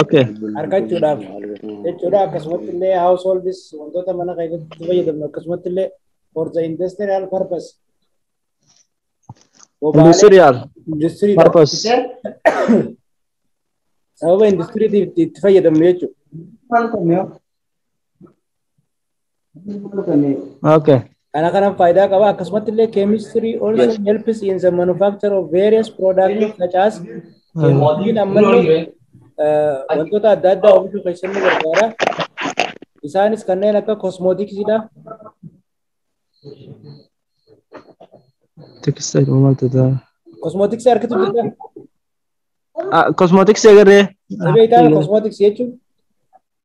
Okay. argachuudhaaf jechuudha akkasumatti illee households wantoota mana keessatti itti fayyadamnu akkasumatti illee for the industrial purpose bobaalee Industrial. industirii Purpose. sababa industiriitiif itti itti fayyadamnu jechuudha. Okay. Kana kanaan faayidaa qaba. Akkasumatti illee chemistry also Yes. helps in the manufacture of various products such as chemistry'n ammallee eh, wantoota adda addaa oomishuu keessatti ni gargaara. Isaanis kanneen akka kosmootiksiidha. Textile maal tataa? Kosmootiksii harkitu jirta. Kosmootiksii agarree. Ni beektaa kosmootiksii jechuun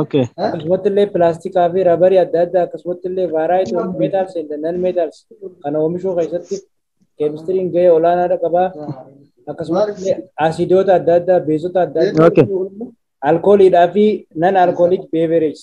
Okay. Akkasumatti illee pilaastikaa fi rabarii adda addaa akkasumatti illee vaaraayit of meetaals and nan meetaals kana oomishuu keessatti keemistiriin gahee olaanaadha qaba. Akkasumatti illee asiidoota adda addaa, beezota adda addaa, Okay. alkooliidhaa fi nan alkooliik beevereejs.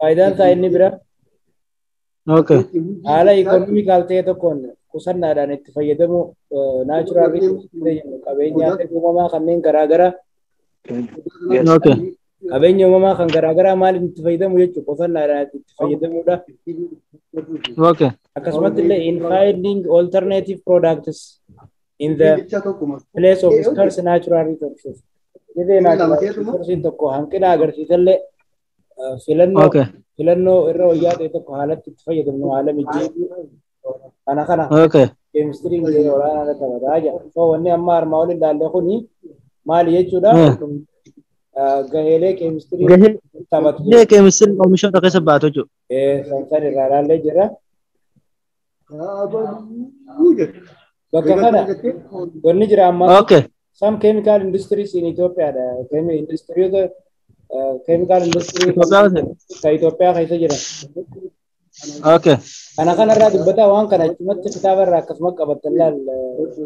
Faayidaan isaa inni bira Okay. haala ikonomikaal ta'e tokkoon qusannaadhaan itti fayyadamuu naachuraal qabeenyaa uumamaa kanneen garaagaraa Okay. qabeenya uumamaa kan garaagaraa maaliin itti fayyadamu jechuudha qusannaadhaan itti fayyadamuudha. Okay. Akkasumas illee in finding alternative products in the place of scarce natural resources. Dhibee natural resources tokko hanqina agarsiisallee filannoo Okay. filannoo irra wayyaa ta'e tokko haalatti itti fayyadamnu haala mijeessuu kana kana Okay. keemistiriin gahee olaanaa irratti taphata jedha. So wanni amma armaa olii ilaalle kuni maali jechuudha? Eh. Ah, Gaheelee keemistirii Gahee taphatu. gahee keemistiriin oomishoota keessa baatu jechuudha. Eh, san san irraa ilaallee jira. Abaluu jedhe. Bakka kana wanni jira ammaa Okay. some chemical industries in Ethiopia dha. Kemi industiriyoota eh, chemical industry Itoophiyaa hojii. ka Itoophiyaa keessa jiran. Okay. Kana kanarraa dubbataa waan kana achumatti kitaaba irraa akkasuma qabattan laal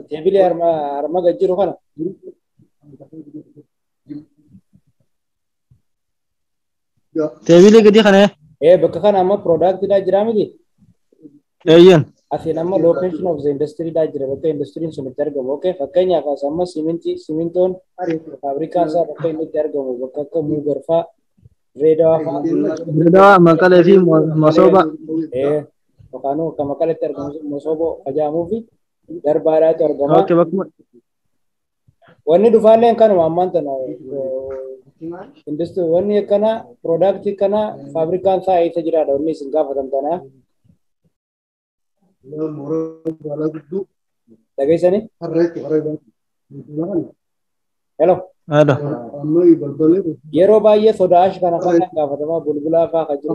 teebilee harma harma gad jiru kana. Teebiilee gadii kana Ee bakka kana amma product dhaa jiraa miti? eeyyan. Asiin amma location of the industry dhaa jira bakka industiriin sun itti argamu. Okay fakkeenyaaf as amma simintii simintoon faabrikaan isaa bakka inni itti argamu bakka akka Muugar faa Dirreedawaa faa. Dirreedawaa, Maqalee fi Masooba. Ee yookaan akka Maqaleetti argamu Masooboo ajaamuufi darbaadhaatu argama. Okay bakkuma Wanni dhufaalleen kanuma ammaan tana industri wanni akkana product akkana faabrikaan isaa eessa jiraadha wanni isin gaafatan tana dhageessani hello Hello. yeroo baay'ee soda ash kana fa'aa gaafatamaa bulbulaa fa'aa kan jiru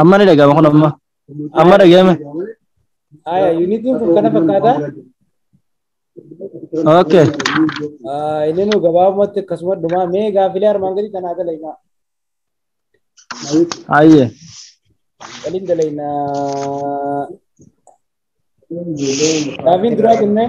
Amma ni dhaga'ama kun amma. Amma dhaga'ame. Aya, yuunitiin kun kana fakkaata. Okay. Ah, Inni nu gabaabumatti akkasuma dhuma mee gaafilee armaan gadii kanaa dalaynaa. Ayyee. Waliin dalaynaa. Gaafiin duraa jennee.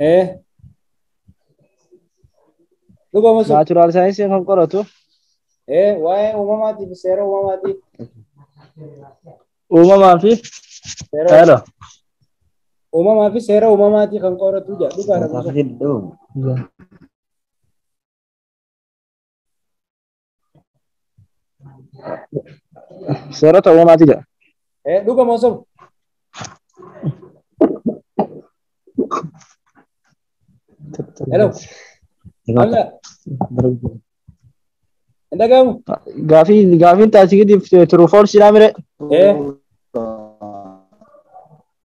Ee. Dhugama sun. Naachuraal saayinsii kan qoratu. Ee waa'ee uumamaatiif seera uumamaatiif. Uumamaa fi. Seera Hello. uumamaa fi seera uumamaatii kan qoratu jedha. Dhugaadha. Hedduu. Seerota uumamaati jedha. Eh, dhuga moo soba? Hello. Hamza. Hin dhaga'amu? Gaafii gaafiin taasikiitiif turuu foolsiidhaa mire. Eh,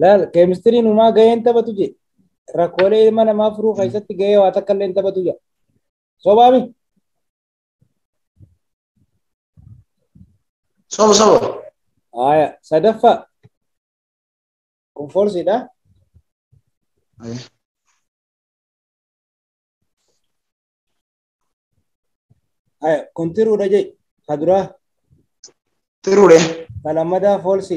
Laal keemistiriin umaa gahee hin taphatu jee rakkoolee ilma namaa furuu keessatti gahee waa takka illee hin taphatu jaa. Sobaami. Soba soba. Haaya sadaffaa kun foorsiidha. Aye. Haaya kun tiruudha jee ka duraa Tiruudhe. ka lammadaa foorsi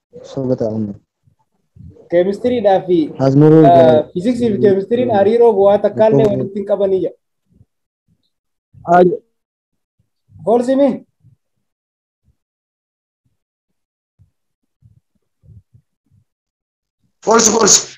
Soba ta'amne. Keemistiriidhaa fi Asmuruu egaa. fiiziksii fi keemistiriin hariiroo bu'aa takkaallee walitti hin qabanii jedha. Foolsimi. False, false.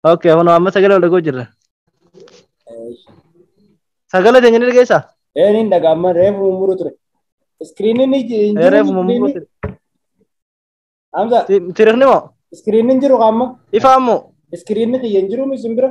Ok, kun amma sagalee wal dhagoo jirra. Sagalee teenya ni dhageessa? Ee ni dhaga'ama reefu mummuru ture. Iskiriiniin ni ji- hin jiru. Reefu mummuru ture. Hamza Tirikni moo? iskiriiniin jiru qaama. Ifaa moo? Iskiriinni kiyya hin jiru isin bira.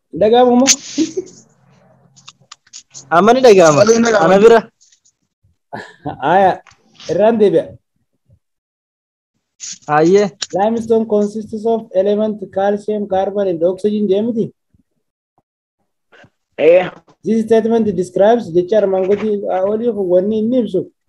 Dhaga'amu moo? Amma ni dhaga'ama. Sagalee hin dhaga'amu. Ana bira. Aya. Irraan deebi'a. Hayyee. Limestone consists of element calcium, carbon and oxygen jedhamti. Ee. This statement describes jecha armaan gadii olii kun wanni inni ibsu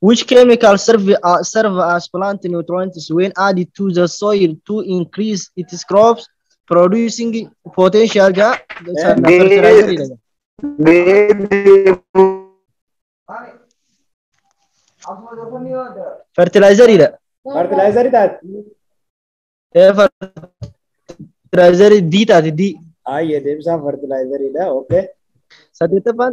Which chemical serve, uh, serve as plant nutrients when added to the soil to increase its crops producing potential ja sana Ni- fertilizer jedha. fertilizer jedha. Fertilizeri taate. Eh, fertilizer D taate D. Ayyee deebisaan fertilizeriidha. Okay. Saddeettaffaan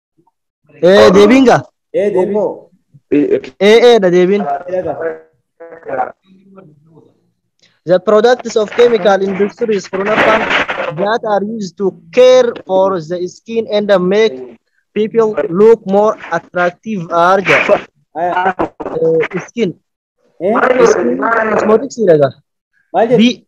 Ee deebiin gaa? Ee deebiin. Ee ee dha deebiin. The products of chemical industries from Japan that are used to care for the skin and make people look more attractive are the Ayaa. uh, skin. Ee. Skin cosmetics dha gaa? Maal jedhu? B.